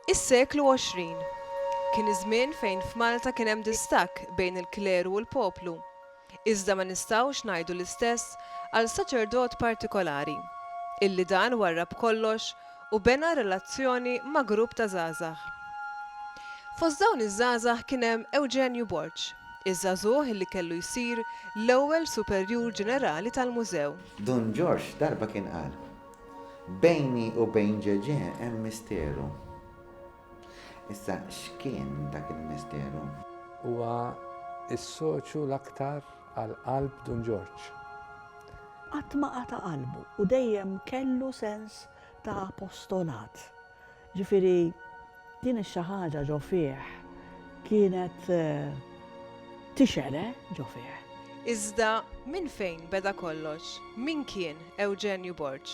Is-seklu għoxrin kien iż-żmien fejn f'Malta kien hemm distakk bejn il-kleru u l-poplu. Iżda ma nistgħux ngħidu l-istess għal saċerdot partikolari, illi dan warrab kollox u bena relazzjoni ma' grupp ta' żgħażagħ. Fost dawn iż-żgħażagħ kien hemm Ewġenju Borg, iż-żagħżugħ illi kellu jsir l-ewwel Superjur Ġenerali tal-Mużew. Dun Ġorġ darba kien qal, Bejni u bejn Ġeġè hemm misteru. Issa x'kien dak il-misteru? Huwa s-soċju l-aktar għal qalb Dun Ġorġ. Qatt ma qata' qalbu u dejjem kellu sens ta' apostolat. Ġifieri, din ix-xi ħaġa ġo fih kienet tixgħel, eh, ġo fih. Iżda minn fejn beda kollox? Min kien Ewġenju Borg?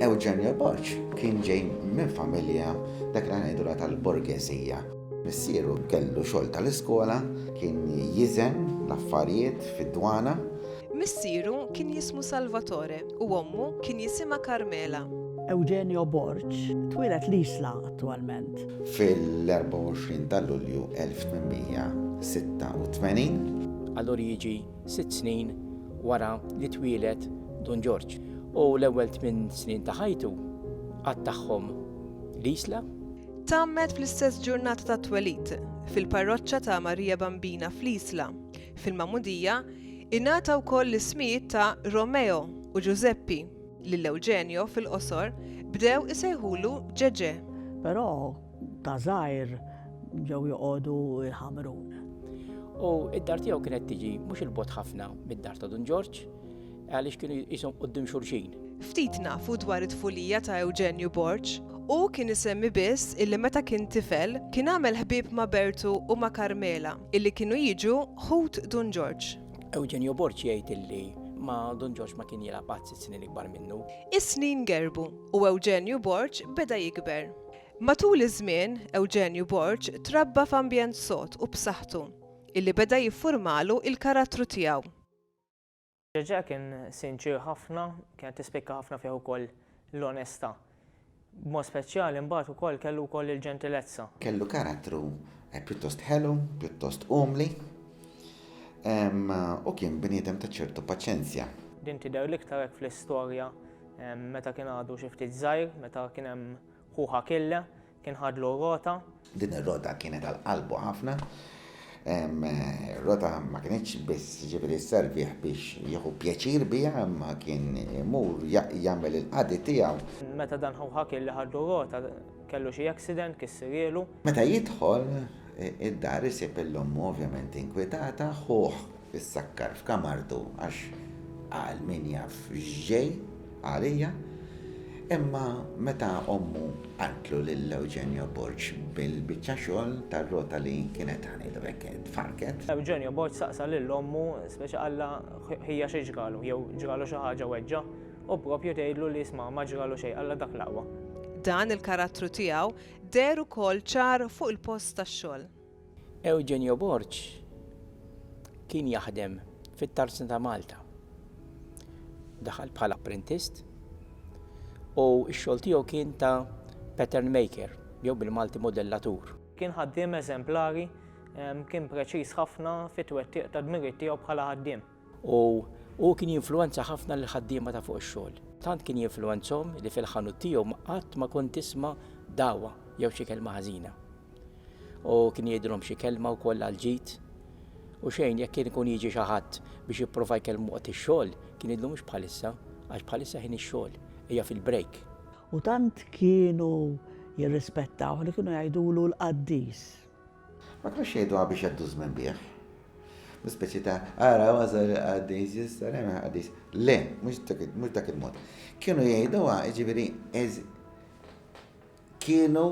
Eugenio Borg kien ġej minn familja dak li ngħidulha tal-borgeżija. Missieru kellu xogħol tal-iskola, kien jiżen l-affarijiet fid-dwana. Missieru kien jismu Salvatore u ommu kien jisimha Carmela. Eugenio Borg twieled l-Isla attwalment. Fil-24 ta' Lulju 1886. Allura jiġi sitt snin wara li twieled Dun Ġorġ u l-ewwel tmien snin ta' ħajtu qattagħhom l-Isla. Tgħammed fl-istess ġurnata tat-twelid, fil-parroċċa ta' Marija Bambina fl-Isla, fil-Magħmudija, ingħata wkoll l-ismijiet ta' Romeo u Ġużeppi, lil Ewġenjo, fil-qosor, bdew isejħulu Ġeġè. Però ta' żgħir ġew joqogħdu jħamrun. U id-dar tiegħu kienet tiġi mhux il-bot ħafna mid-dar ta' Dun Ġorġ għaliex kienu jisom qoddim xurxin. Ftit nafu dwar it-tfulija ta' Ewġenju Borg. Hu kien isemmi biss illi meta kien tifel kien għamel ħbieb ma' Bertu u ma' Karmela illi kienu jiġu ħut Dun Ġorġ. Ewġenju Borg jgħid illi ma' Dun Ġorġ ma kien jilgħab qatt sitt snin ikbar minnu. Is-snin gerbu u Ewġenju Borg beda jikber. Matul iż-żmien, Ewġenju Borg trabba f'ambjent sod u b'saħħtu, illi beda jiffurmalu il-karattru tiegħu. Ġeġè kien sinċier ħafna, kienet tispikka ħafna fih ukoll l-onestà. B'mod speċjali mbagħad ukoll kellu wkoll il-ġentilezza. Kellu karattru pjuttost ħelu, pjuttost umli, u kien bniedem ta' ċertu paċenzja. Din tidher l-iktar hekk fl-istorja meta kien għadu xi ftit żgħir, meta kien hemm Hu Hakille kien ħadlu r-rota. Din ir-rota kienet għal qalbu ħafna. Ir-rota ma kinitx biss ġifieri sservih biex jieħu pjaċir biha imma kien imur jagħmel il-qadi tiegħu. Meta dan ħu Hakille ħadlu r-rota kellu xi accident kissirielu. Meta jidħol id-dar isib lil ommu ovvjament inkwitata, ħuh Issakkar f'kamartu għax qal min jaf x'ġej għalija, imma meta ommu qaltlu lil Eugenio Borg bil-biċċa xogħol tar-rota li kienet għanilu hekk tfarrket. Eugenio Borg saqsa lil ommu, speċi qallha ħija xi ġralu, jew ġralu xi ħaġa weġġa', u proprju tgħidlu li isma' ma ġralu xejn qallha dak l-aqwa. Dan il-karattru tiegħu deher ukoll ċar fuq il-post tax-xogħol. Eugenio Borg kien jaħdem fit-Tarzna ta' Malta. Daħal bħala apprentist u x-xogħol tiegħu kien ta' pattern maker jew bil-Malti modellatur. Kien ħaddiem eżemplari, kien preċiż ħafna fit-twettiq tad-dmirijiet tiegħu bħala ħaddiem. U hu kien jinfluwenza ħafna lill-ħaddiema ta' fuq ix-xogħol. Tant kien jinfluwenzahom li fil-ħanut tiegħu qatt ma kont tisma' dagħwa jew xi kelma ħażina. Hu kien jgħidilhom xi kelma wkoll għall-ġid. U xejn, jekk kien ikun jiġi xi ħadd biex jipprova jkellmu waqt ix-xogħol, kien jgħidlu mhux bħalissa, għax bħalissa ħin ix-xogħol, hija fil-break. U tant kienu jirrispettawh li kienu jgħidulu l-qaddis. Ma kienux jgħiduha biex jgħaddu żmien bih. Speċi ta' ara wasal qaddis jista' hemm qaddis. Le, mhux dak il-mod. Kienu jgħiduha, jiġifieri kienu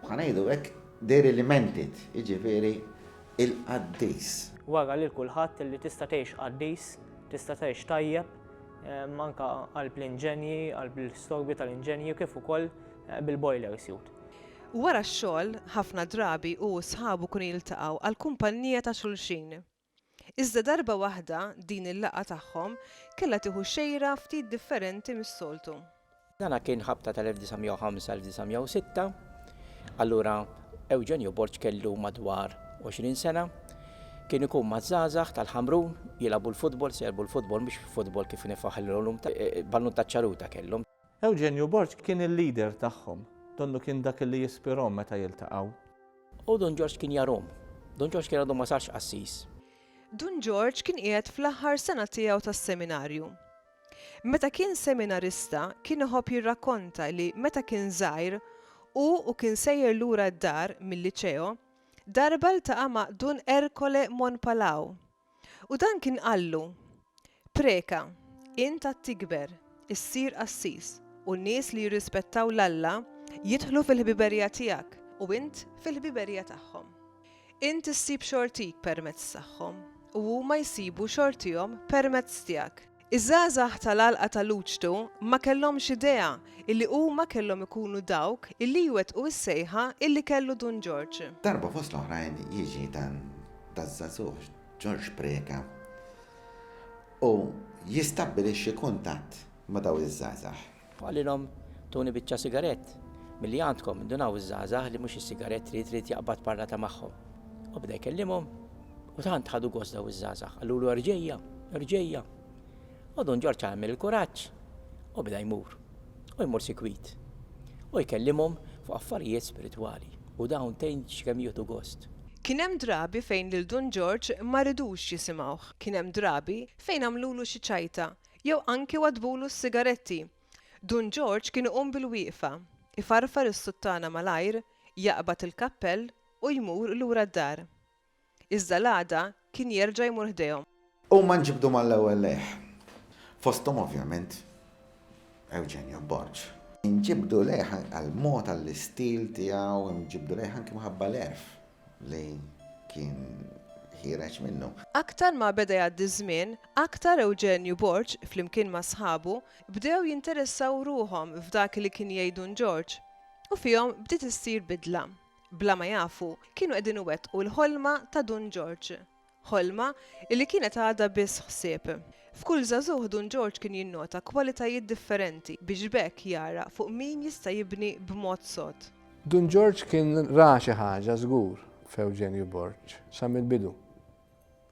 ħanejdu hekk they limited, jiġifieri il-qaddis. Wara lil kulħadd li tista' tgħix qaddis, tista' tgħix tajjeb, anke qalb l-inġenji, qalb l-istorbi tal-inġenji kif ukoll bil-boiler suit. Wara x-xogħol, ħafna drabi hu u sħabu kienu jiltaqgħu għall-kumpannija ta' xulxin. Iżda darba waħda din il-laqgħa tagħhom kellha tieħu xejra ftit differenti mis-soltu. Dan kien ħabta tal-1905-1906. Allura Ewġenju Borg kellu madwar għoxrin sena. Kien ikun maż-żgħażagħ tal-Ħamrun jilagħbu l-futbol, se jilagħbu l-futbol mhux futbol kif nifuh illum, ballun taċ-ċaruta kellhom. Eugenio Borg kien il-leader tagħhom. Donnu kien dak li jispirahom meta jiltaqgħu. U Dun Ġorġ kien jarhom. Dun Ġorġ kien għadu ma sarx qassis. Dun Ġorġ kien qiegħed fl-aħħar sena tiegħu tas-seminarju. Meta kien seminarista kien iħobb jirrakkonta li meta kien żgħir hu u kien sejjer lura d-dar mil-liċeo, darba ltaqa' ma' Dun Ercole Monpalao, U dan kien qallu, Preka, int għad tikber, issir qassis, u n-nies li jirrispettaw 'l Alla jidħlu fil-ħbiberija tiegħek, u int fil-ħbiberija tagħhom. Int issib xortik permezz tagħhom, u huma jsibu xortihom permezz tiegħek. Iż-żgħażagħ tal-għalqa ta' Luċtu ma kellhomx idea illi huma kellhom ikunu dawk illi jwettqu s-sejħa illi kellu Dun Ġorġ. Darba fost l-oħrajn jiġi dan daż-żagħżugħ Ġorġ Preca u jistabbilixxi kuntatt ma' dawn iż-żgħażagħ. Qalilhom, Tuni biċċa sigarett milli għandkom, indunaw iż-żgħażagħ li mhux is-sigarett trid irid jaqbad parlata magħhom. U bda jkellimhom u tant ħadu gost daw iż-żgħażagħ, qalulu erġejja, erġejja. U Dun Ġorġ għamel il-kuraġġ u bda jmur, u jmur sikwit, u jkellimhom fuq affarijiet spiritwali, u dawn tgħin x'kemm jieħdu gost. Kien hemm drabi fejn lil Dun Ġorġ ma ridux jisimgħuh, kien hemm drabi fejn għamlulu xi ċajta, Jew anki waddbulu s-sigaretti. Dun Ġorġ kien iqum bil-wieqfa, ifarfar is-suttana malajr, jaqbad il-kappell u jmur lura d-dar. Iżda l-għada kien jerġa' jmur ħdejhom. Huma nġibdu mal-ewwel lejh. Fosthom ovvjament Ewġenju Borg. Inġibdu lejh għall-mod, għall-istil tiegħu, inġibdu lejh anki minħabba l-għerf li kien ħiereġ minnu. Aktar ma beda jgħaddi ż-żmien, aktar Ewġenju Borg, flimkien ma' sħabu, bdew jinteressaw ruħhom f'dak li kien jgħid Dun Ġorġ. U fihom bdiet issir bidla. Bla ma jafu, kienu qegħdin iwettqu l-ħolma ta' Dun Ġorġ. Ħolma, illi kienet għadha biss ħsieb. F'kull żagħżugħ Dun Ġorġ kien jinnota kwalitajiet differenti biex b'hekk jara fuq min jista' jibni b'mod sod. Dun Ġorġ kien ra xi ħaġa żgur f'Ewġenju Borg sa mill-bidu.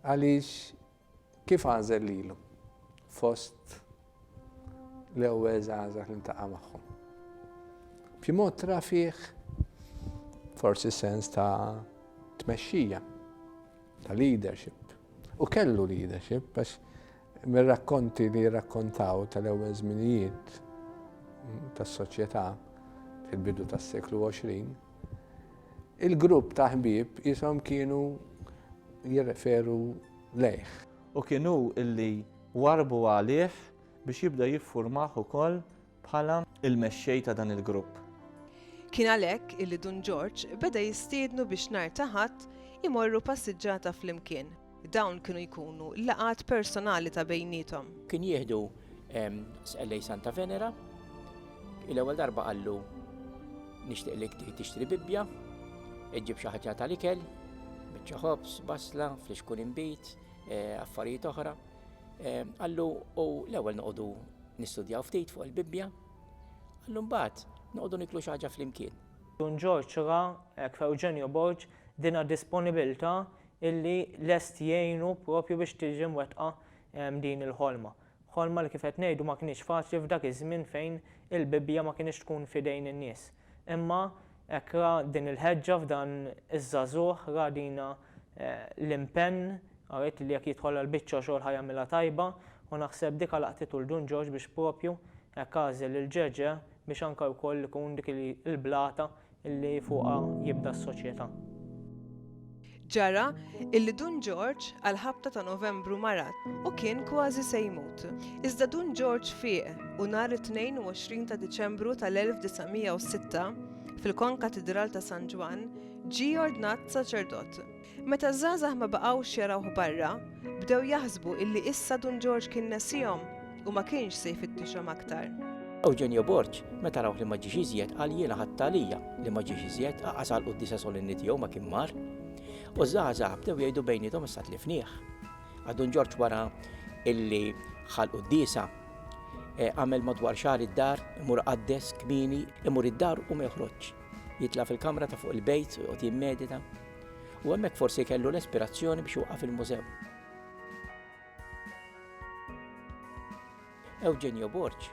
Għaliex kif għażel lilu fost l-ewwel żgħażagħ li ntaqa' magħhom. B'xi mod tra fih forsi sens ta' tmexxija, ta' leadership. U kellu leadership, għax mir-rakkonti li rakkontaw tal-ewwel żminijiet tas-soċjetà fil-bidu tas-seklu 20, il-grupp ta' ħbieb jisom kienu jirreferu lejh. U kienu illi Warrbu għalih biex jibda jiffurmah ukoll bħala l-mexxej ta' dan il-grupp. Kien għalhekk illi Dun Ġorġ beda jistiednu biex nhar ta' Ħadd imorru passiġġata flimkien. Dawn kienu jkunu laqgħat personali ta' bejniethom. Kien jieħdu Sqellej Santa Venera, l-ewwel darba qallu nixtieq li tixtri Bibbja, iġġib xi ħaġa tal-ikel, biċċa ħobż, basla, flixkun inbid, eh, affarijiet oħra. Eh, għallu u l-ewwel noqogħdu nistudjaw ftit fuq il-Bibbja, għallu mbagħad noqogħdu niklu xi ħaġa flimkien. Dun Ġorġ ra hekk f'Eugenio Borg dina disponibilità illi lest jgħinu propju biex tiġi mwettqa eh, din il-ħolma. Ħolma li kif qed ngħidu ma kienx faċli f'dak iż-żmien fejn il-Bibbja ma kienx tkun fidejn in-nies. Imma hekk ra din il-ħeġġa f'dan iż-żagħżugħ, ra dina l-impenn, arit li jekk jidħol għall-biċċa xogħol ħa jagħmilha tajba u naħseb dik għalaqtitu 'l Dun Ġorġ biex proprju hekk għażel lil Ġeġè biex anke wkoll ikun dik il-blata li fuqha jibda s-soċjetà. Ġara illi Dun Ġorġ għall-ħabta ta' Novembru marat u kien kważi se jmut. Iżda Dun Ġorġ fieq u nhar it-22 ta' Diċembru tal-1906, fil-Konkatidral ta' San Ġwann, ġie ordnat saċerdot. Meta ż-żgħażagħ ma baqgħux jarawh barra, bdew jaħsbu illi issa Dun Ġorġ kien nesihom. U ma kienx se jfittixhom aktar. Eugenio Borg, meta rawh li ma ġiex iżjed, qal jiena ħadtha għalija li ma ġiex iżjed, aqas għall-quddiesa solenni tiegħu ma kien mar. U ż-żgħażagħ bdew jgħidu bejniethom issa tlifnieh. Għad Dun Ġorġ wara illi ħal quddiesa e, għamel madwar xahar id-dar, imur qaddes, kmini, imur id-dar u ma joħroġx. Jitla fil-kamra ta' fuq il-bejt u jqgħod jimmedita. U hemmhekk forsi kellu l-ispirazzjoni biex waqaf il-mużew. Eugenio Borg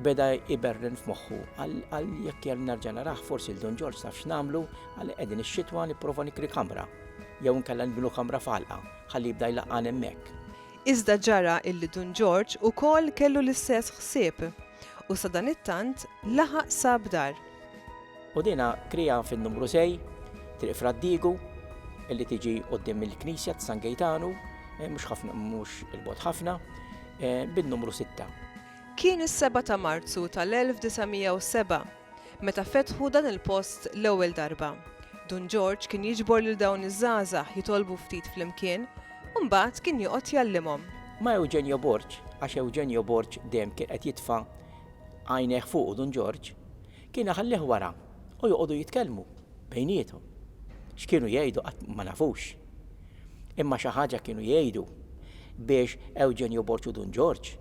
beda iberren f'moħħu għal jekk jgħal nerġa' naraħ forsi l-Don Ġorġ saf x'namlu għal qegħdin ix-xitwa nipprova nikri kamra jew nkella nbnu kamra falqa ħalli jibda jlaqqan hemmhekk. Iżda ġara illi Dun Ġorġ ukoll kellu l-istess ħsieb u sadanittant laħaq sab dar. U dina krija fin-numru sej, triq Fraddigu, illi tiġi qoddim il-Knisja ta' San Gejtanu, eh, mhux ħafna mhux il-bot ħafna, eh, bin-numru sitta. Kien is-seba' ta' Marzu tal-1907 meta fetħu dan il-post l-ewwel darba. Dun Ġorġ kien jiġbor lil dawn iż-żgħażagħ jitolbu ftit flimkien u mbagħad kien joqgħod jgħallimhom. Ma' Eugenio Borg, għax Eugenio Borg dejjem kien qed jitfa' Għajnejh fuqu Dun Ġorġ kien iħallih wara u joqogħdu jitkellmu bejniethom. X'kienu jgħidu qatt ma nafux. Imma xi ħaġa kienu jgħidu biex Ewġenju Borg u Dun Ġorġ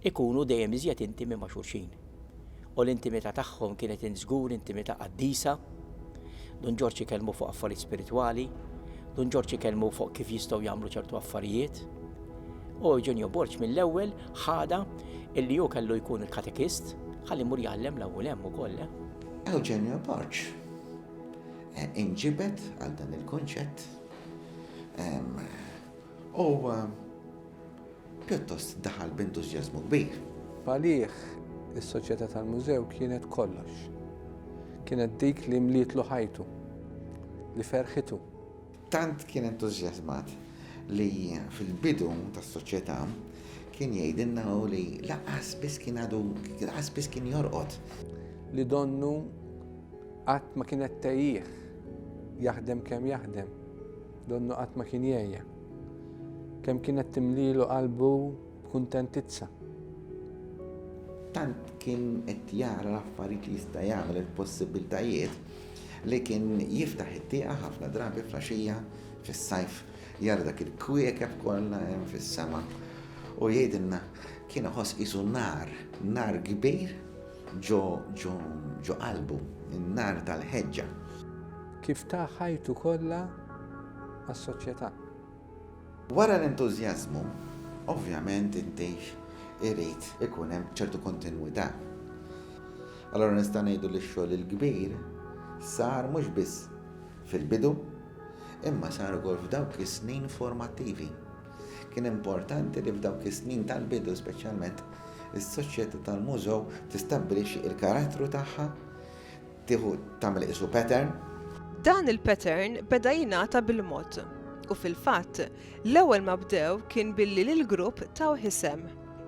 ikunu dejjem iżjed intimi ma' xulxin. U l-intimità tagħhom kienet int żgur intimità qaddisa. Dun Ġorġ ikellmu fuq affarijiet spiritwali. Dun Ġorġ ikellmu fuq kif jistgħu jagħmlu ċertu affarijiet. U Ewġenju Borg mill-ewwel ħadha illi hu kellu jkun il-katekist ħalli jmur jgħallem l-ewwel hemm ukoll. Eh? Eugenio Barċ eh, inġibet għal dan il-kunċett u pjuttost daħal b'entużjażmu kbir. Palih is-soċjetà tal-mużew kienet kollox. Kienet dik li mlietlu ħajtu, li ferħitu, Tant kien entużjażmat li fil-bidu tas-Soċjetà kien jgħidilna hu li lanqas biss kien għadu lanqas biss kien jorqod. Li donnu qatt ma kienet tgħejjih, jaħdem kemm jaħdem, donnu qatt ma kien jgħejja. Kemm kienet timlielu qalbu b'kuntentizza. Tant kien qed jara l-affarijiet li jista' jagħmel il-possibbiltajiet li kien jiftaħ it-tieqa ħafna drabi fl-għaxija fis-sajf jara dak il-kwiekeb kollha hemm fis-sema u jgħidilna kien iħoss qisu nar, nar kbir ġo ġo ġo qalbu, in-nar tal-ħeġġa. Kif ta ħajtu kollha għas-soċjetà. Wara l-entużjażmu, ovvjament intix irid ikun hemm ċertu kontinwità. Allura nistgħu ngħidu li x-xogħol il-kbir sar mhux biss fil-bidu, imma sar ukoll f'dawk is-snin formattivi. Kien importanti li f'dawk is-snin tal-bidu speċjalment is-Soċjetà tal-Mużew tistabbilixxi l-karattru tagħha, Tieħu tagħmel qisu pattern. Dan il-pattern beda jingħata bil-mod u fil-fatt, l-ewwel ma bdew kien billi lill-grupp tawh isem.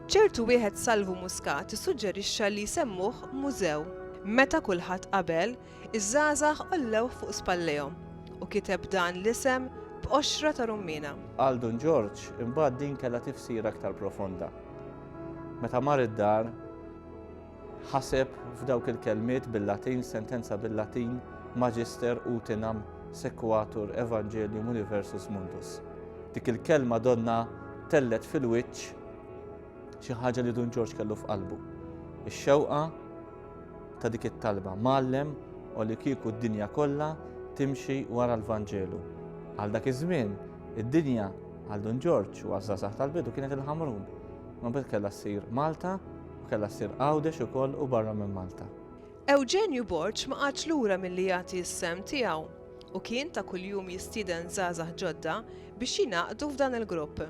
Ċertu wieħed Salvu Muscat issuġġerixxa li jsemmuh mużew. Meta kulħadd qabel, iż-żgħażagħ għollewh fuq spallejhom u kiteb dan l-isem b'qoxra ta' rummiena. Għal Dun Ġorġ imbagħad din kellha tifsira aktar profonda. Meta mar id-dar, Ħaseb f'dawk il-kelmiet bil-Latin, sentenza bil-Latin, Magister utinam sequatur Evangelium Universus Mundus. Dik il-kelma donna tellet fil-wiċċ xi ħaġa li Dun Ġorġ kellu f'qalbu. Ix-xewqa ta' dik it-talba mallem u li kieku d-dinja kollha timxi wara l-Vanġelu. Għal dak iż-żmien, id-dinja għal Dun Ġorġ u għaż-żgħażagħ tal-bidu kienet il-Ħamrun. Ma bad kellha ssir Malta Kellha ssir Għawdex ukoll u barra minn Malta. Ewġenju Borg ma qagħadx lura milli jagħti s-sehem tiegħu u kien ta' kuljum jistieden żgħażagħ ġodda biex jingħaqdu f'dan il-grupp.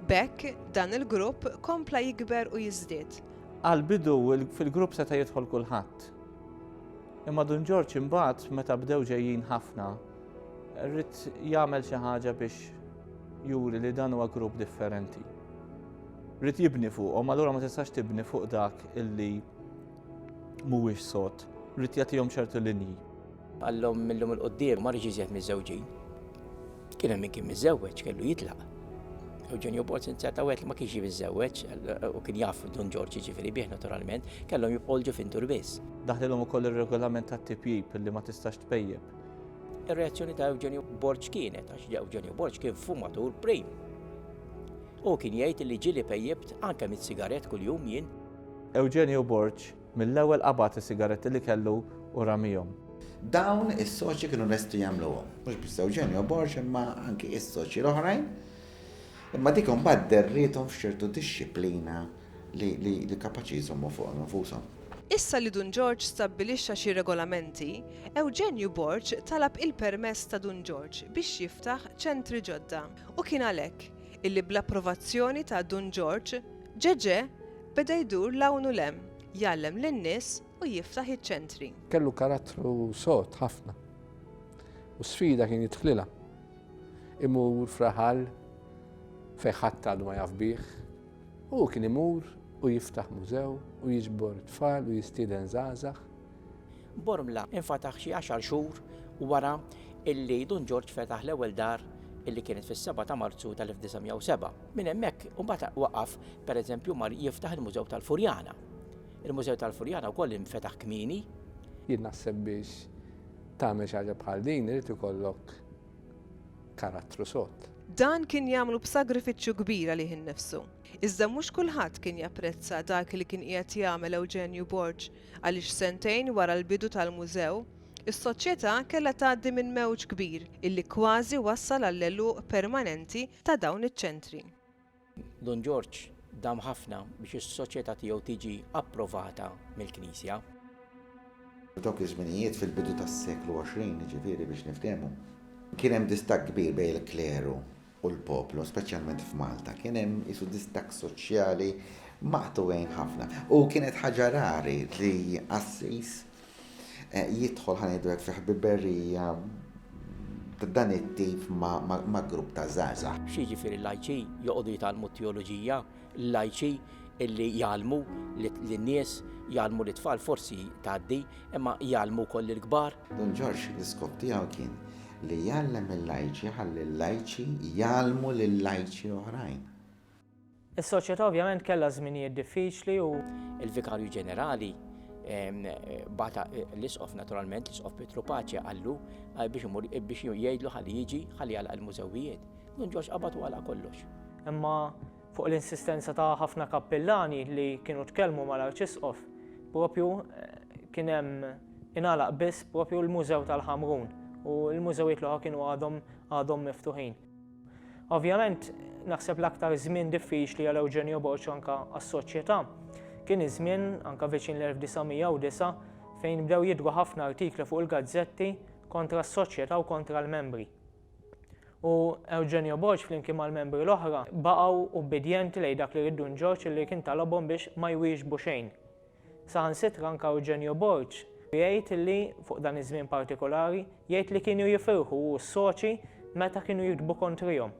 B'hekk, dan il-grupp kompla jikber u jiżdied. Għall-bidu fil-grupp seta' jidħol kulħadd. Imma Dun Ġorġ imbagħad meta bdew ġejjin ħafna, rrid jagħmel xi ħaġa biex juri li dan huwa grupp differenti. Rid jibni fuqhom, allura ma tistax tibni fuq dak illi mhuwiex sod. Rid jagħtihom ċertu linji. Għallhom millum il-qoddim ma rridx iżjed miżżewġin. Kien hemm min kien miżżewweġ kellu jitlaq. Eugenio Borz inzjata wet li ma kienx jiżżewweġ u kien jaf Don Ġorġ jiġifieri bih naturalment, kellhom jibqgħu ġufin dur biss. Daħlilhom ukoll ir-regolament tat-tipjip li ma tistax tpejjep. Ir-reazzjoni ta' Eugenio Borġ kienet għax Eugenio Borġ kien fumatur prim. Hu kien jgħid li ġieli pejjipt anke mitt sigarett kuljum jien. Eugenio Borg mill-ewwel qabad is-sigaretti li kellu u ramihom. Dawn is-soċji kienu lesti jagħmluhom. Mhux biss Eugenio Borg imma anki is-soċji l-oħrajn. Imma dik imbagħad derriethom f'ċertu dixxiplina li kapaċi jżommu fuqhom infushom. Issa li Dun Ġorġ stabbilixxa xi regolamenti, Eugenio Borg talab il-permess ta' Dun Ġorġ biex jiftaħ ċentri ġodda. U kien għalhekk illi bl-approvazzjoni ta' Dun Ġorġ, Ġeġè beda jdur 'l hawn u 'l hemm, jgħallem lin-nies u jiftaħ iċ-ċentri. Kellu karattru sod ħafna u sfida kien jidħlilha. Imur f'raħal fejn ħadd għadu ma jaf bih, hu kien imur u jiftaħ mużew u jiġbor tfal u jistieden żgħażagħ Bormla infataħ xi għaxar xhur wara illi Dun Ġorġ fetaħ l-ewwel dar illi kienet fis-seba' ta' Marzu tal-1907. Minn hemmhekk imbagħad waqaf pereżempju mar jiftaħ il-Mużew tal-Furjana. Il-Mużew tal-Furjana wkoll infetaħ kmieni. Jien naħseb biex tagħmel xi ħaġa bħal din irid ikollok karattru sod. Dan kien jagħmlu b'sagrifiċċju kbir għalih innifsu. Iżda mhux kulħadd kien japprezza dak li kien qiegħed jagħmel Ewġenju Borg. Għaliex sentejn wara l-bidu tal-mużew, is-Soċjetà kellha tgħaddi minn mewġ kbir illi kważi wassal għall-għeluq permanenti ta' dawn iċ-ċentri. Dun Ġorġ dam ħafna biex is-Soċjetà tiegħu tiġi approvata mill-Knisja. F'dawk iż-żminijiet, fil-bidu tas-seklu għoxrin, jiġifieri biex niftehmu, kien hemm distakk kbir bejn il-kleru u l-poplu, speċjalment f'Malta, kien hemm isu distakk soċjali maqtugħin ħafna. U kienet ħaġa rari li qassis eh, jidħol ħanejdu fi ħbiberija dan it-tip ma' grupp ta' zaza. Xi ġifieri l-lajċi joqogħdu jitgħallmu teoloġija, l-lajċi illi jgħalmu lin-nies jgħalmu l-tfal forsi tgħaddi, imma jgħalmu koll il-kbar. Don Ġorġ l-iskop tiegħu kien li jgħallem il-lajċi jħalli l-lajċi jgħallmu lil lajċi oħrajn. Is-soċjetà ovvjament kellha żminijiet diffiċli u. Il-Vikarju Ġenerali bata l-Isqof naturalment, l-Isqof Pietru Paċi għallu biex imur biex jgħidlu ħalli jiġi ħalli għalaq il-mużewijiet. Nun ġox qabad u għalaq kollox. Imma fuq l-insistenza ta' ħafna kappillani li kienu tkellmu mal-Arċisqof, propju kien hemm Ingħalaq biss propju l-Mużew tal-Ħamrun u l-mużewijiet l-oħra kienu għadhom għadhom miftuħin. Ovvjament, naħseb l-aktar żmien diffiċli għal Eugenio Borg anka għas-soċjetà kien iż-żmien anka viċin l-1909 fejn bdew jidru ħafna artikli fuq il-gazzetti kontra s-soċjetà u kontra l-membri. U Eugenio Borg flimkien mal-membri l-oħra baqgħu ubbidjenti lejn dak li riddu Ġorġ li kien talabhom biex ma jwieġbu xejn. Saħansitra anke Eugenio Borg jgħid li, fuq dan iż-żmien partikolari, jgħid li kienu jifirħu hu u s-soċi meta kienu jiktbu kontrihom.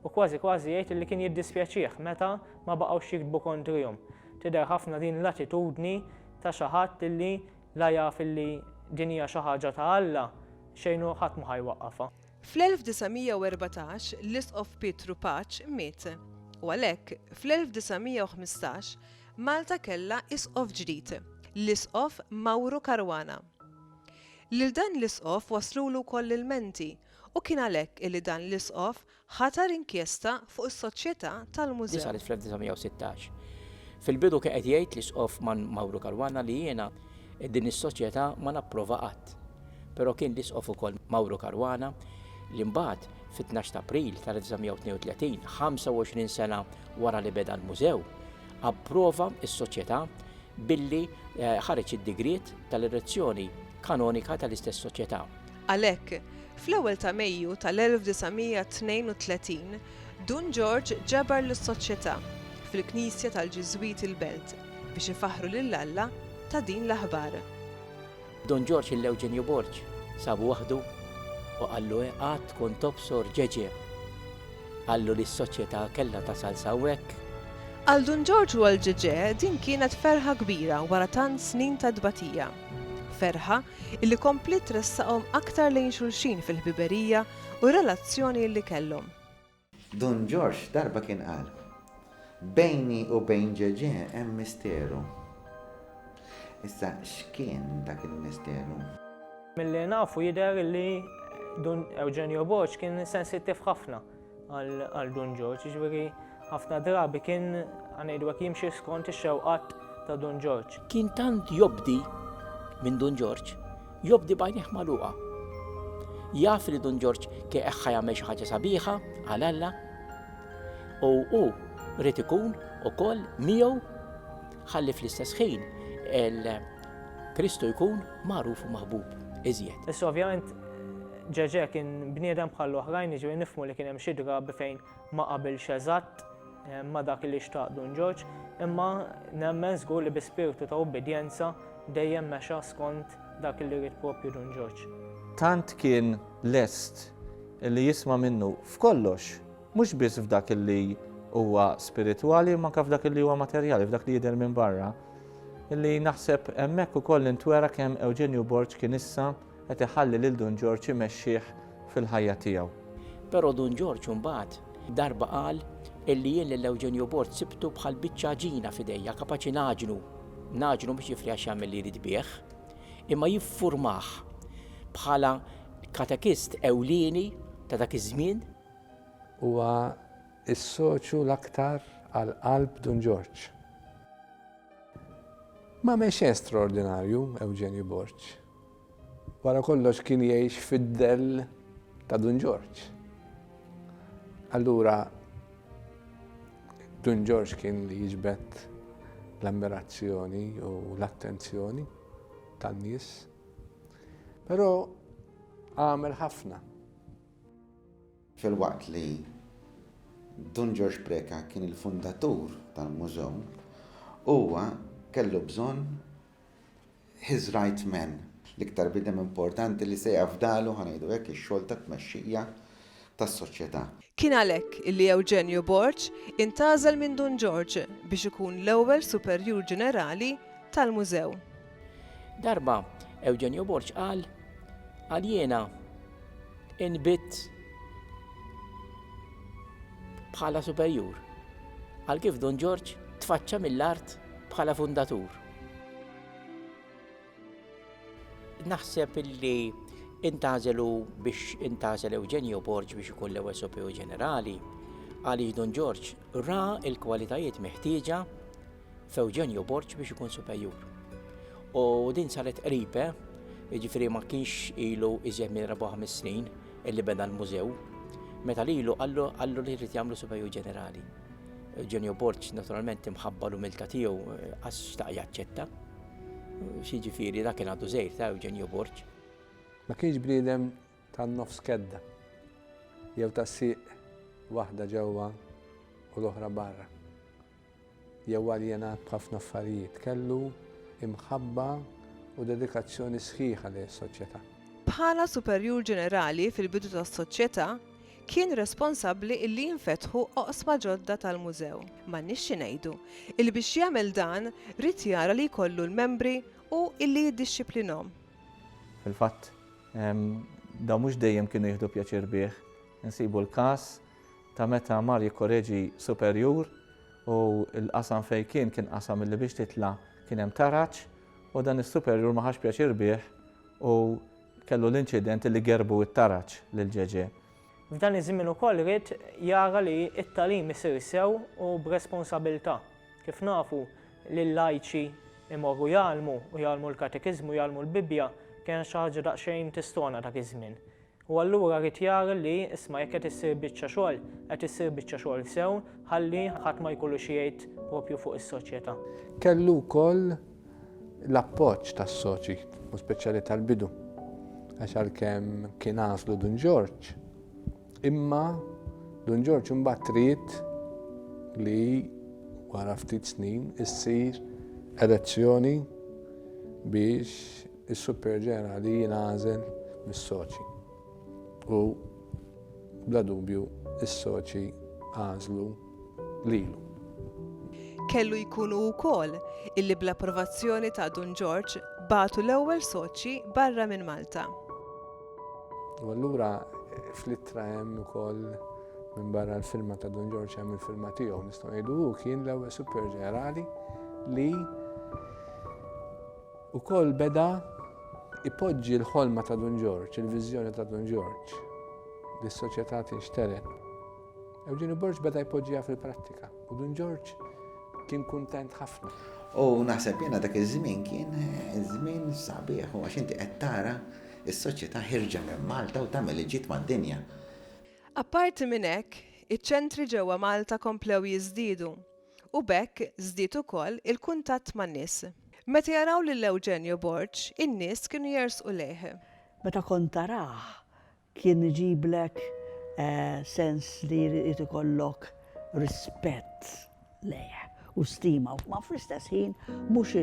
U kważi kważi jgħid li kien jiddispjaċih meta ma baqgħux jiktbu kontrihom. Tidher ħafna din l-attitudni ta' xi ħadd li la jaf li din hija xi ħaġa ta' Alla, xejn u ħadd mhu ħa jwaqqafha. Fl-1914 l-Isqof Pietru Paċ miet, u għalhekk, fl-1915, Malta kellha Isqof ġdid, l-Isqof Mawru Caruana. Lil dan l-Isqof waslulu wkoll l-ilmenti u kien għalhekk illi dan l-Isqof ħatar inkjesta fuq is-Soċjetà tal-Mużew. Saret fl-1916. Fil-bidu kien qed jgħid l-Isqof Mawru Caruana li jiena din is-Soċjetà ma napprova qatt. Però kien l-Isqof ukoll Mauro Caruana li mbagħad, fit-tnax t'April tal-1932, 25 sena wara li beda l-Mużew, approva s-Soċjetà billi ħareġ id-digriet tal-erezzjoni kanonika tal-istess Soċjetà. Għalhekk, fl-ewwel ta' Mejju tal-1932, Dun Ġorġ ġabar lis-Soċjetà, fil-Knisja tal-Ġiżwiti l-Belt, biex ifaħħru lil Alla ta' din l-aħbar. Dun Ġorġ il Ewġenju Borg sabu waħdu u qallu he għad tkun tobsor ġeġe. Qallu li s-soċjeta kellha tasal s'hawnhekk. Għal Dun Ġorġ u għal ġeġe din kienet ferħa kbira wara tant snin ta' tbatija. Ferħa illi kompliet tressaqhom aktar lejn xulxin fil-ħbiberija u r-relazzjoni illi kellhom. Dun Ġorġ darba kien qal, Bejni u bejn Ġeġè hemm misteru. Issa x'kien dak il-misteru? Milli nafu jidher li Dun Eugenio Borg kien sensittiv ħafna għal Dun Ġorġ, jiġifieri ħafna drabi kien ngħidu hekk jimxi skont ix-xewqat ta' Dun Ġorġ. Kien tant jobdi minn Dun Ġorġ Jobdi b'għajnejh magħluqa. Jaf li Dun Ġorġ kieq ħa jagħmel xi ħaġa sabiħa għal Alla u hu rrid ikun ukoll miegħu ħalli fl-istess ħin Kristu jkun magħruf u maħbub iżjed. Issa ovvjament ġeġe kien bniedem bħal oħrajn iġri nifmu li kien hemm xi drabi fejn ma qabilx eżatt ma' dak li xtaq Dun Ġorġ, imma nemmen żgur li bi spirtu ta' ubbidjenza dejjem mexa skont dak li ried proprju Dun Ġorġ. Tant kien lest li jisma' minnu f'kollox, mhux biss f'dak li huwa spiritwali imma anke f'dak li huwa materjali, f'dak li jidher minn barra, li naħseb hemmhekk ukoll intwera kemm Ewġenju Borg kien issa, Qed iħalli lil Dun Ġorġ imexxih fil-ħajja tiegħu. Però Dun Ġorġ imbagħad darba qal illi jien lil Eugenio Borg sibtu bħal biċċa għaġina f'idejja kapaċi ngħaġnu. Ngħaġnu mhux jifli għax jagħmel li jrid bih, imma jiffurmah bħala katekist ewlieni ta' dak iż-żmien. Huwa s-soċju l-aktar għal qalb Dun Ġorġ. Ma mex xejn straordinarju Eugenio Borg. Wara kollox kien jgħix fid-dell ta' Dun Ġorġ. Allura Dun Ġorġ kien li jiġbed l-ammirazzjoni u l-attenzjoni tan-nies. Però għamel ħafna. Filwaqt li Dun Ġorġ Preca kien il-fundatur tal-Mużew, huwa kellu bżonn his right man, l-iktar bniedem importanti li se jafdalu, ħa ngħidu hekk, ix-xogħol ta' tmexxija tas-soċjetà. Kien għalhekk li Ewġenju Borg intgħażel minn Dun Ġorġ biex ikun l-ewwel Superjur Ġenerali tal-Mużew. Darba Ewġenju Borg qal, Għal jiena inbidt bħala superjur, għal kif Dun Ġorġ tfaċċa mill-art bħala fundatur. Naħseb illi intażelu biex intażel Eugenio Borg biex ikun l-ewwel sopew ġenerali, għaliex Don George ra il-kwalitajiet meħtieġa f'Eugenio Borg biex ikun supejur. U din saret qribe, jiġifieri ma kienx ilu iżjed minn 4 snin illi beda l-mużew, meta lilu qallu li jrid jagħmlu supejur ġenerali. Eugenio Borg naturalment imħabba l-umilta tiegħu eh, għax xtaq jaċċetta. Xiġifieri dak kien għadu żejr ta' Eugenio Borg. Ma kienx bniedem tan-nofs kedda jew ta' siq waħda ġewwa u l-oħra barra. Jew aljenat b'ħafna affarijiet kellu imħabba u dedikazzjoni sħiħa li s-soċjetà. Bħala superjur ġenerali fil-bidu tas-soċjetà, kien responsabbli illi jinfetħu oqsma ġodda tal-Mużew. M'għandniex xi ngħidu. Illi biex jagħmel dan ried jara li jkollu l-membri u illi jiddixxiplinhom. Fil-fatt, dawn mhux dejjem kienu jieħdu pjaċir bih. Insibu l-każ ta' meta mar jikkoreġi superjur u l-qasam fejn kien kien qasam illi biex titla' kien hemm taraġ u dan is-superjur ma ħax pjaċir bih u Kellu l-inċident li gerbu t-taraġ lil Ġeġè. F'dan iż-żmien ukoll ried jara li t-tagħlim isir sew u b'responsabilità. Kif nafu, li l-lajċi jmorru jgħallmu u jgħallmu l-katekiżmu, jgħallmu l-Bibbja, kienet xi ħaġa daqsxejn tistona dak iż-żmien. U allura ried jara li, isma' jekk qed issir biċċa xogħol, qed issir biċċa xogħol sew ħalli ħadd ma jkollu xi jgħid proprju fuq is-soċjetà. Kellu wkoll l-appoġġ tas-soċi, u speċjali tal-bidu, għax għalkemm kien għażlu Dun Ġorġ, imma Dun Ġorġ imbagħad trid li wara ftit snin issir elezzjoni biex is-Super Ġenerali jingħażel mis-soċi. U bla dubju is-soċi għażlu lilu. Kellu jkun hu wkoll illi bl-approvazzjoni ta' Dun Ġorġ bagħtu l-ewwel soċji barra minn Malta. U allura fl-ittra hemm ukoll minn barra l-firma ta' Dun Ġorġ hemm il-firma tiegħu nistgħu ngħidu hu kien l-ewwel Super Ġenerali li ukoll beda ipoġġi l-ħolma ta' Dun Ġorġ, il-viżjoni ta' Dun Ġorġ li s-soċjetà tinxteret. Eugenio Borg beda jpoġġiha fil-prattika u Dun Ġorġ kien kuntent ħafna. U naħseb jiena dak iż-żmien kien żmien sabiħ u għax inti qed tara s-soċjetà ħirġa minn Malta u tagħmel il-ġid mad-dinja. Apparti minn hekk, iċ-ċentri ġewwa Malta komplew jiżdiedu u b'hekk żdied ukoll il-kuntatt man-nies. Meta jaraw lil Eugenio Borg, in-nies kienu jersqu lejh. Meta kont tarah, Kien iġiblek sens li jrid ikollok rispett lejh u stima, ma fl-istess ħin mhux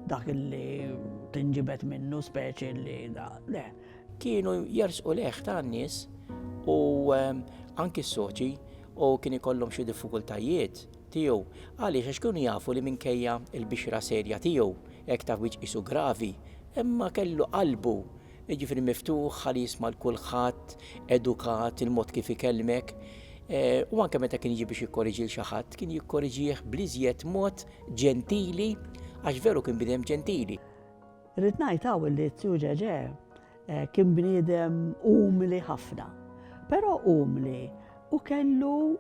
dak li tinġibed minnu speċi li da, le. Kienu jersqu lejh ta' nies u anki s-soċi u kien ikollhom xi diffikultajiet tiegħu. Għaliex? Għax kienu jafu li minkejja l-bixra serja tiegħu, hekk ta' wiċċ qisu gravi, imma kellu qalbu jiġifieri miftuħ, ħalli jisma' 'l kulħadd, edukat, il-mod kif ikellmek, u anke meta kien jiġi biex jikkoreġi 'l xi ħadd, kien jikkoreġih bl-iżjed mod ġentili għax veru kien bniedem ġentili. Irrid ngħid hawn li Zio Ġeġè kien bniedem umli ħafna, però umli u kellu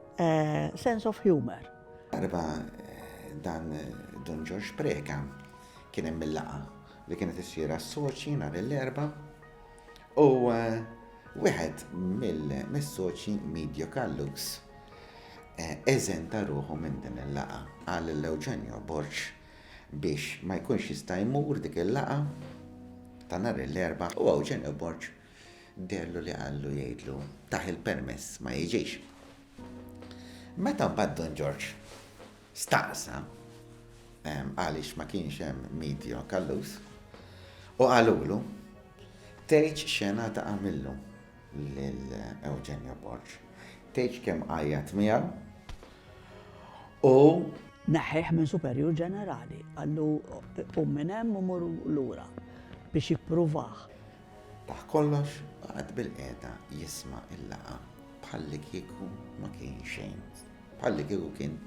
sense of humour. Darba dan Dun Ġorġ Preca kien hemm il-laqgħa li kienet issir għas-soċji nhar l-Erbgħa u eh, wieħed mill-soċji Media Callux eh, eżenta ruħu minn din il-laqa għal l-Eugenio Borċ biex ma jkunx jista' jmur dik il-laqa ta' nhar l-erba u Eugenio Borċ dellu li għallu jgħidlu taħ il-permess ma jiġix. Meta mbagħad Don Ġorġ staqsa għaliex ma kienx hemm Midio Callus u qalulu tgħidx x'għena ta' għamillu lil Eugenio Borg. Tgħidx kemm għajjat miegħu u Neħħieh minn Superjur Ġenerali, qallu qum minn hemm u mur lura biex jippruvah. Taħt kollox qagħad bilqiegħda jisma' l-laqgħa bħallikieku ma kien xejn, bħallikieku kien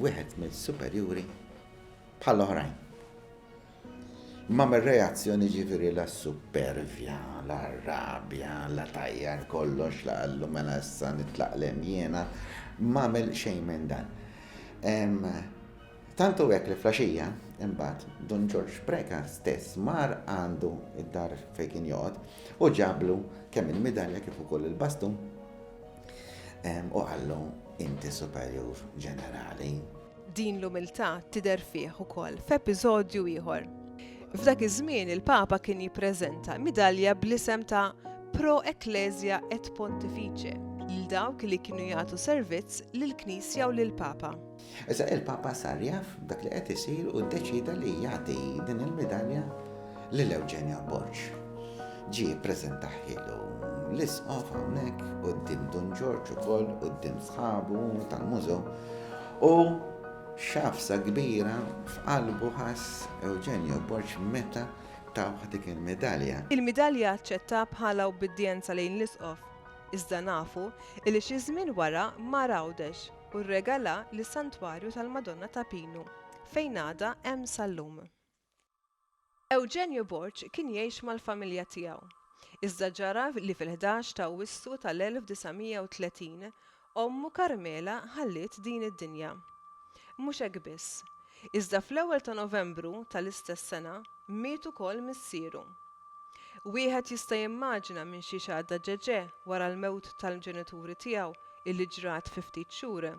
wieħed mis-superjuri bħall-oħrajn. Imma mir-reazzjoni ġifieri la s-suppervja, la r-rabja, la tajjar kollox la qallu mela issa nitlaqlem jiena, m'għamel xejn minn dan. Tant hu hekk li flaxija, imbagħad, Dun Ġorġ Preca stess mar għandu d-dar fejn kien joqgħod u ġablu kemm il-midalja kif ukoll il-bastun u qallu inti superjur ġenerali. Din l-umiltà tidher fih ukoll f'episodju ieħor. F'dak iż-żmien il-Papa kien jippreżenta midalja bl-isem ta' Pro Ecclesia et Pontifice lil dawk li kienu jagħtu servizz lill-Knisja u lill-Papa. Issa il-Papa sar jaf b'dak li qed isir u ddeċieda li jagħti din il-midalja lil Eugenio Borg. Ġie ppreżentahielu l-Isqof hawnhekk quddiem Dun Ġorġ ukoll quddiem sħabu tal-mużew u xafsa kbira f'qalbu ħass Eugenio Borg meta tawh dik il-midalja. Il-midalja aċċettha bħala ubbidjenza lejn l-Isqof, iżda nafu li xi żmien wara mar għawdex. u rregala lis-Santwarju tal-Madonna ta' Pinu, fejn għadha hemm sal-lum. Eugenio Borg kien jgħix mal-familja tiegħu, iżda ġara li fil-ħdax ta' Awwissu tal-1930 ommu Carmela ħalliet din id-dinja. Mhux hekk biss, Iżda fl-ewwel ta' Novembru tal-istess sena miet ukoll missieru. Wieħed jista' jimmaġina minn xiex għadda Ġeġè wara l-mewt tal-ġenituri tiegħu illi ġrat fi ftit xhur.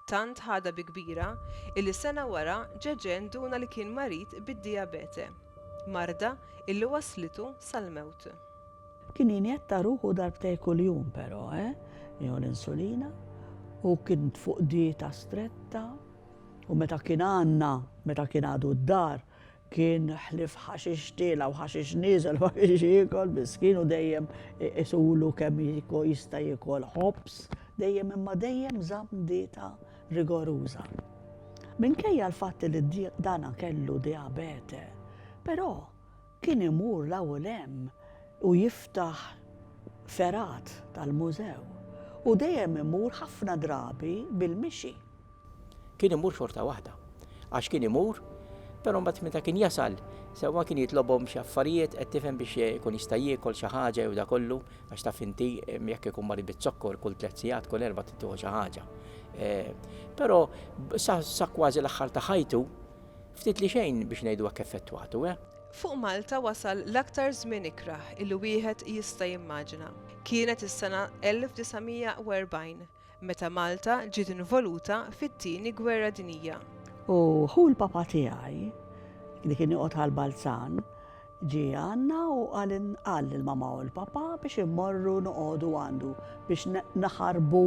Tant ħadha bi kbira illi sena wara Ġeġè nduna li kien marid bid-dijabete, marda illi wasslitu sal-mewt. Kien jinjetta ruħu darbtejn kuljum però, eh, jew l-insulina, u kien fuq dieta stretta U meta kien għandna, meta kien għadu d-dar, kien ħlief ħaxix tiela' u ħaxix nieżel ma kienx jiekol, miskin, u dejjem iqisulu kemm jista' jiekol ħobż, dejjem imma dejjem żamm dieta rigoruża. Minkejja l-fatt li dana kellu dijabete, però Kien imur 'l hawn 'l hemm u jiftaħ fergħat tal-mużew u dejjem imur ħafna drabi bil-mixi. Kien imur xorta waħda. Għax kien imur, però mbagħad meta kien jasal, sewwa kien jitlobhom xi affarijiet, qed tifhem, biex ikun jista' jiekol xi ħaġa jew dakollu, għax taf inti jekk ikun marid biz-zokkor kull tliet sigħat, kull erba' trid tieħu xi ħaġa. Però sa kważi l-aħħar ta' ħajtu, Ftit li xejn biex ngħidu hekk effettwatu, eh? Fuq Malta wasal l-aktar żmien ikrah li wieħed jista' jimmaġina. Kienet is-sena 1940 meta Malta ġiet involuta fit-Tieni Gwerra Dinjija. U ħu l-papa tiegħi, li kien joqgħod għal Balzan, Ġie għandna u qal lill-mamà u l-papà biex immorru noqogħdu għandu biex naħarbu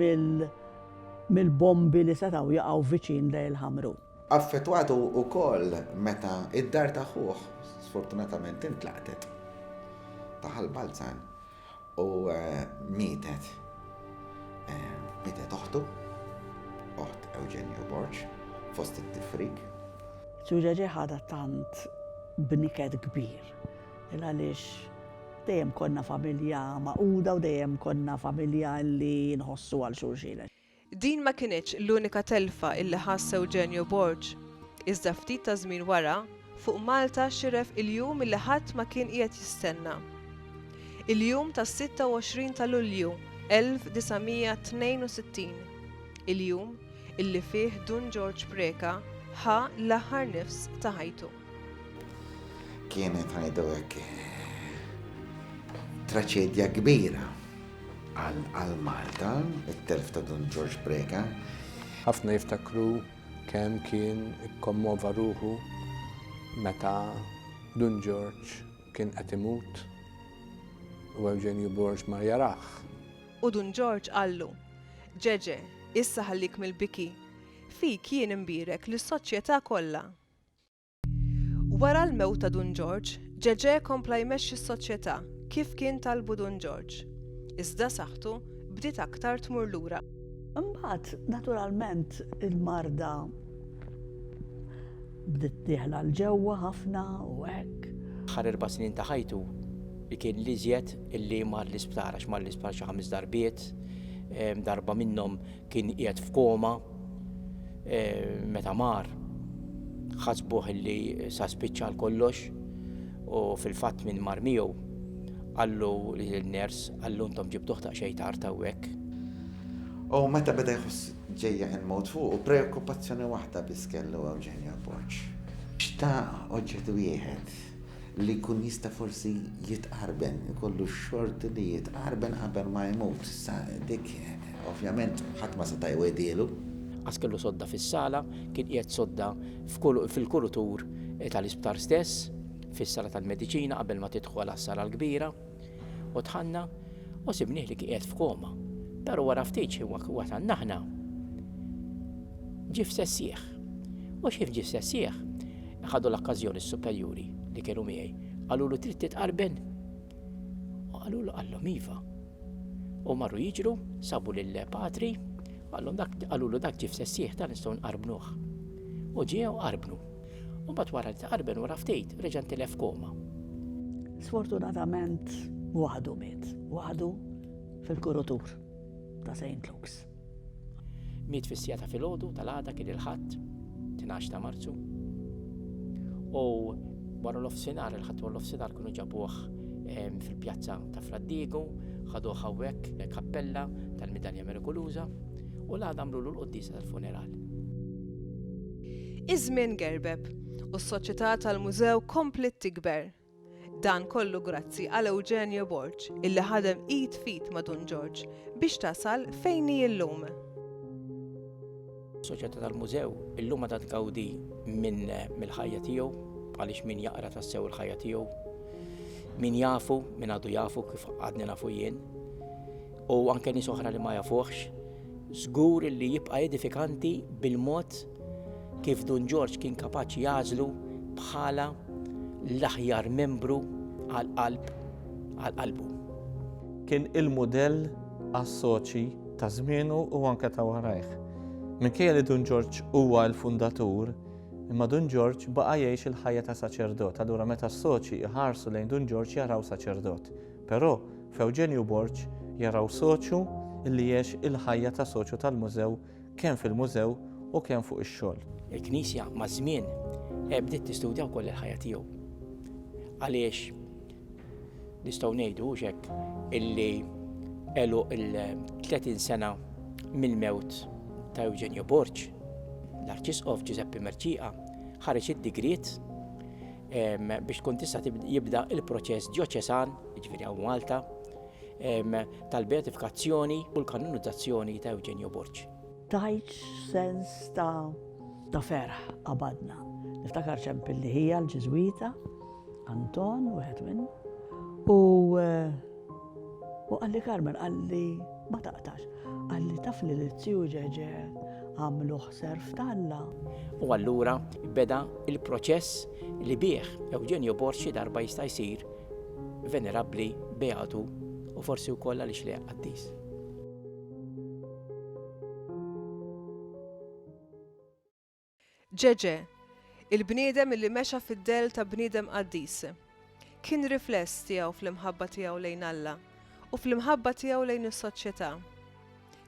mill-bombi li setgħu jaqgħu viċin Dejl Ħamru. Affettwat hu wkoll meta d-dar ta' ħuh sfortunatament intlaqtet ta' Ħal Balzan. U mietet. Mietet oħtu, oħt Eugenio Borg, fost it-tifrik. Ġulia ġie ħadha tant b'niket kbir. Il għaliex dejjem konna familja magħquda u dejjem konna familja li nħossu għal xulxin. Din ma kinitx l-unika telfa illi ħass Eugenio Borg, iżda ftit ta' żmien wara, fuq Malta xiref il-jum illi ħadd ma kien qiegħed jistenna. Il-jum tas-26 ta' Lulju 1962, il-jum illi fih Dun Ġorġ Preca ħa l-aħħar nifs ta' ħajtu. Kienet ngħidu hekk traċedja kbira għal Malta, it-telf ta' Don George Breka. Ħafna jiftakru kemm kien ikkommova ruħu meta Dun George kien qed imut u Eugenio Borg mar jaraħ. U Dun George qallu, Ġeġe, issa ħallik mill-biki, fik jien imbierek lis-soċjetà kollha. Wara l-mewt ta' Dun Ġorġ, Ġeġè kompla jmexxi s-soċjetà kif kien talbu Dun Ġorġ, iżda saħħtu bdiet aktar tmur lura. Imbagħad, naturalment, il-marda bdiet dieħla 'l ġewwa ħafna u hekk. Aħħar erba' snin ta' ħajtu kien l-iżjed li mar l-isptar għax mar l-isptar xi ħames darbiet, darba minnhom kien qiegħed f'koma. E, meta mar, ħasbuh li sa spiċċa kollox u fil-fatt minn mar miegħu għallu li l-ners għallu ntom ġibtuħ ta' xejn tard hawnhekk. U meta beda jħoss ġejja il-mod fuq u preokkupazzjoni waħda biss kellu Eugenio Borg. Xtaq oġġett wieħed li jkun jista' forsi jitqarben, ikollu x-xorti li jitqarben qabel ma jmut. Issa dik ovvjament ħadd ma seta' jwegħdielu. Għax kellu sodda fis-sala, kien qiegħed sodda fil-kulutur tal-isptar stess, fis-sala tal-mediċina qabel ma tidħol għas-sala l-kbira. U tħanna u sibnieh li qiegħed f'koma. Però wara ftit xi wasanna aħna ġif sessieħ. U xif ġif sessieħ, ħadu l-okkażjoni s-superjuri li kienu miegħi. Qalulu trid titqarben? U qalulu qallhom iva. U marru jiġru, sabu lil patri, qalhom dak qalulu dak ġif sessieħ ta' nistgħu nqarbnuh. U ġiew qarbnu. U bat wara li taqarben wara ftit, reġa' ntilef f'koma. Sfortunatament, waħdu miet, waħdu fil-kurutur ta' St. Luke's. Miet fis-sija ta' filgħodu tal-għada kien il-ħadd, 12 ta' Marzu. U wara l-offsinar, il-ħadd wara l-offsinar kienu ġabuh ehm, fil-pjazza ta' Fraddigu, ħadu hawnhekk kappella tal-Midalja Merikuluża u l-għada għamlu l-qoddisa tal-funeral. Iż-żmien gerbeb, u s-soċjetà tal-mużew kompliet tikber. Dan kollu grazzi għal Eugenio Borg, illi ħadem id f'id ma' Dun Ġorġ biex tasal fejn hi llum. Is-soċjetà tal-mużew illum għadha tgawdi mill-ħajja tiegħu, għaliex min jaqra tassew il-ħajja tiegħu, min jafu, min għadu jafu kif għadni nafu jien, u anke nies oħra li ma jafuhx, żgur li jibqa' edifikanti bil-mod kif Dun Ġorġ kien kapaċi jagħżlu bħala l-aħjar membru għal qalb għal qalbu. Kien il-mudell għas-soċi ta' żmienu u anke ta' warajh. Minkejja li Dun Ġorġ huwa l-fundatur, imma Dun Ġorġ baqa' jgħix il-ħajja ta' saċerdot, allura meta s-soċi jħarsu lejn Dun Ġorġ jaraw saċerdot. Però, f'Ewġenju Borg jaraw soċju li għex il-ħajja ta' soċju tal-Mużew kemm fil-Mużew u kemm fuq ix-xogħol. Il-Knisja maż-żmien bdiet tistudja wkoll il-ħajja tiegħu. Għaliex nistgħu ngħidu hux hekk illi għeluq il-30 sena mill-mewt ta' Eugenio Borg, l-Arċisqof Giuseppe Merċiqa ħareġ id-digriet biex tkun tista' jibda il-proċess ġoċesan, ġifieri hawn Malta, tal-beatifikazzjoni u l-kanonizzazzjoni ta' Eugenio Borg. Tajt sens ta' ferħ qabadna. Niftakar ċemp li ħija l-Ġiżwita, Anton, wieħed minn, u eh, U qalli Carmen, qalli ma taqtax, qalli taf li l-Ziju Ġeġe għamlu ħser f'Talla. U allura beda il-proċess li bih Eugenio Borg xi darba jista' jsir venerabbli, beatu u forsi wkoll għaliex le qaddis. Ġeġè, il-bniedem illi mexa fid-dell ta' bniedem qaddis, kien rifless tiegħu fl-imħabba tiegħu lejn Alla u fl-imħabba tiegħu lejn is-soċjetà.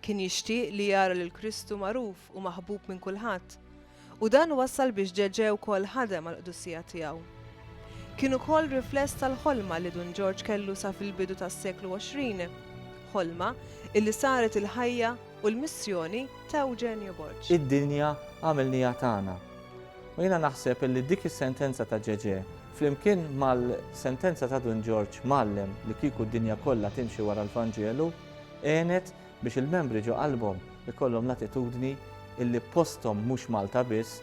Kien jixtieq li jara lil Kristu magħruf u maħbub minn kulħadd, u dan wassal biex Ġeġè wkoll ħadem għall-qdusija tiegħu. Kien ukoll rifless tal-ħolma li Dun Ġorġ kellu sa fil-bidu tas-seklu 20, ħolma illi saret il-ħajja u l-missjoni ta' Eugenio Borg. Id-dinja għamilniha tagħna. U jiena naħseb illi dik is-sentenza ta' Ġeġè, flimkien mal-sentenza ta' Dun Ġorġ mgħallem li kieku d-dinja kollha timxi wara l-Vanġelu, għenet biex il-membri ġo qalbhom ikollhom l-attitudni illi posthom mhux Malta biss,